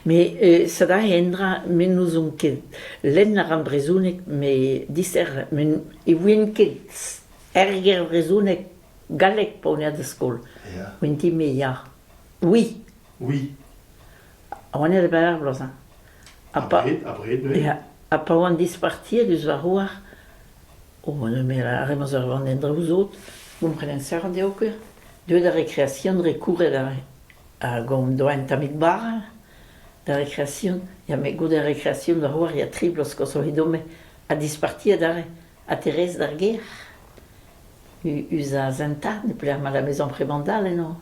Met set aze endra me n'ouzon ket. Lenn a ran brezhoneg met dister met ne ouien ket erger brezhoneg, galleg pa on er skol. Mintin-me ya. Oui. Oui. Ha oan aet a-benn ar bloaz-mañ. Abred, abred bremañ. Ya. Ha pa oan dispartiet eus va c'hoar, O lameral a rez ma'z eur van en draoù sot, gomprenan serret eo ket. Deuet a rekreasion, rekouret hag hon doa un tammig bara. Da rekreasion, ya met goude ar rekreasion da c'hoari ha tri bloaz koshoc'h edomp-me ha disparti adarre. Ha Terez d'ar gêr, u- us az an 'ta, ne pelec'h 'mañ da maison Premandal eno.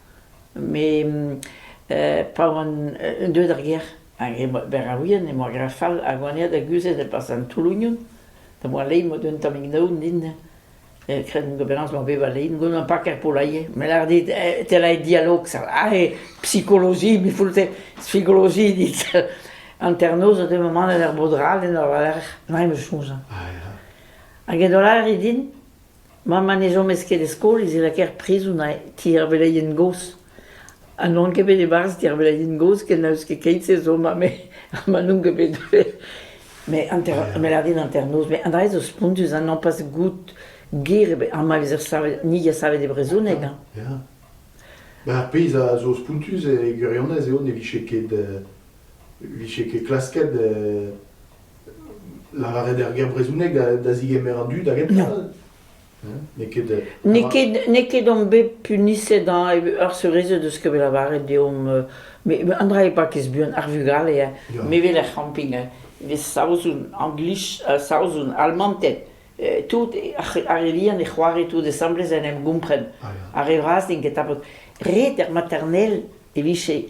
Mes pa oan deuet er gêr hag e oa berraouien e oa graet fall hag oan aet da guzhet e-barzh an toull-ougnon da moa lein emaout un tammig naoun din kred eo penaos emañ bet va lein gant ur pakad polailhez. Me lâr dit te lârit dialog aze psikoloji me foull-te psikoloji dit hanternoz a deu manet er bod-rall en ur war-lerc'h emañ em eus soñj. Hag edo lâret din Mamm ha ne chomas ket e skol ez e lakaer prizon ha ti ar veleien gozh. Ha n'on ket bet e-barzh ti ar veleien gozh ken n'eus ket keit-se zo ma me ha ma n'on ket bet deuet. Met hanter- me lâr din hanternoz, met an dra-se zo spontus ha nompaz goût ger ebet. Ha ma vezer savet, ni a savet e brezhoneg hañ. Ya. Met ar pezh a zo spontus e gwirionez eo ne vije ket vije ket klasket lavaret er ger brezhoneg da zigemer an dud hag heptal. N'eo ket on bet puniset ar seurezed eus ket bet lavaret deomp met an dra eo pas ket buan ar vugale me vel er c'hamping vez saozoun anglich saozoun almanted tout ar elian e c'hoari tout asambles en em gompren ar re vras n'int ket tapet ret er maternel e vije